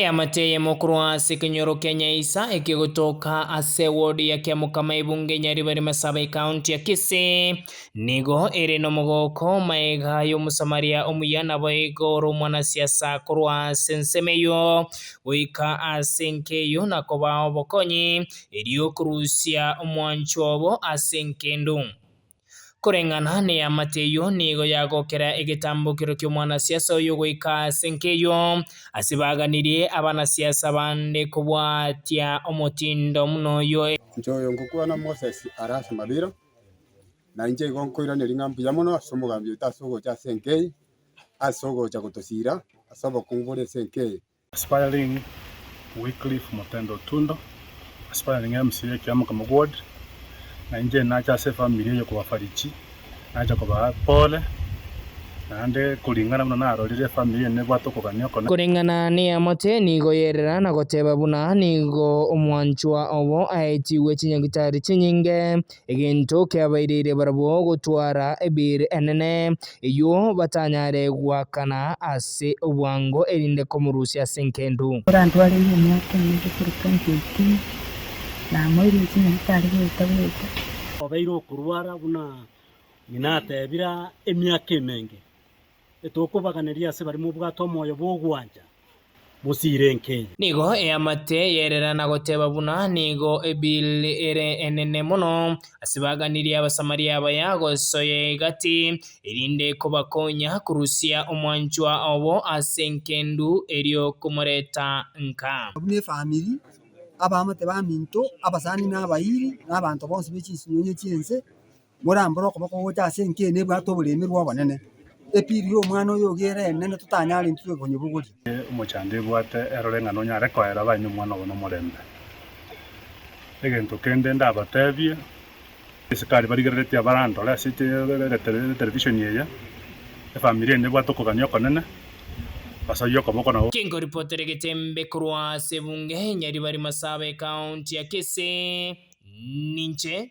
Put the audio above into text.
Eamate eyemo korwa ase ekenyoro kia Nyaisa ekegotoka ase ward ya Kiamokama ebunge Nyaribari Masaaba Ekaunti ya Kisii nigo ere nomogooko maega y'omosamaria omuya naboigo ore omwanasiasa korwa ase ensemo eyio goika ase enka eyio na kobao obokonyi erio korusia omwancho obo ase enka endungu. Koreng'ana neamate eyio nigo yagokera egetambokero ki'omwanasiasa oyo goika ase nk'eyio, ase baganirie abanasiasa bande kobwatia omotindo buna oyio. Inche oyo ngokwana Moses are ase mabera, na inche igo nkoiraneria ng'a mbuya mono ase omogambi oito ase ogocha ase enka eye, ase ogocha gotosira ase obokungu bore ase enka eye. Aspiring Wycliffe Motenda Otundo, Aspiring MC ye ekiama Kamau Ward, na inche nache ase efamiri eye kobafariji, nache kobaa pole, naende koring'ana buna narorire efamiri eye nebwate okogania okone. Koreng'ana neamate nigo yerera na goteba buna nigo omwanchwa obo aetigwe chinyagitari chinyinge. egento keabaireire barabwo gotwara ebiiri enene, eyio batanyare goakana ase obwango erinde komorusia ase engendu. Ekero Andũ areire emyaka eye gochia 2018 na amoeire inse nabo tari goeta goeta. Obeire okorwara buna ng'ina ateebire emiaka emenge, etokobaganeria ase baria mobwate omoyo bw'ogwancha bosiire enke. Nigo eamate yerera na goteba buna nigo ebill ere enene mono ase baganirie Abasamaria abaya gosoya egati, erinde ekobakonya korusia omwanchwa obo ase enkendu erio komoreta nka. Abwo nefamiri, abaamate baminto, abasani na abairi, na abanto bonsi be chinsinyo ye chinse, morambore okoboko gocha ase enkiina ebwate oboreemi bw'obonene. Epiri y'omwana oyo ogere enene totanyarentigwe konyebugoria. Nere omochango ebwate erore ng'a nonyare koera baino omwana obo nomorembe. Egento kende ndabateebie, asikari barigereretie abarandore ase etelevishoni eye, efamiri ende ebwate okogania okonene, basarie okoboko nabo. Kingoripotera egeteembe korwa ase ebunge ya Ribarimasa aba ecounty ya Kisii, ninche.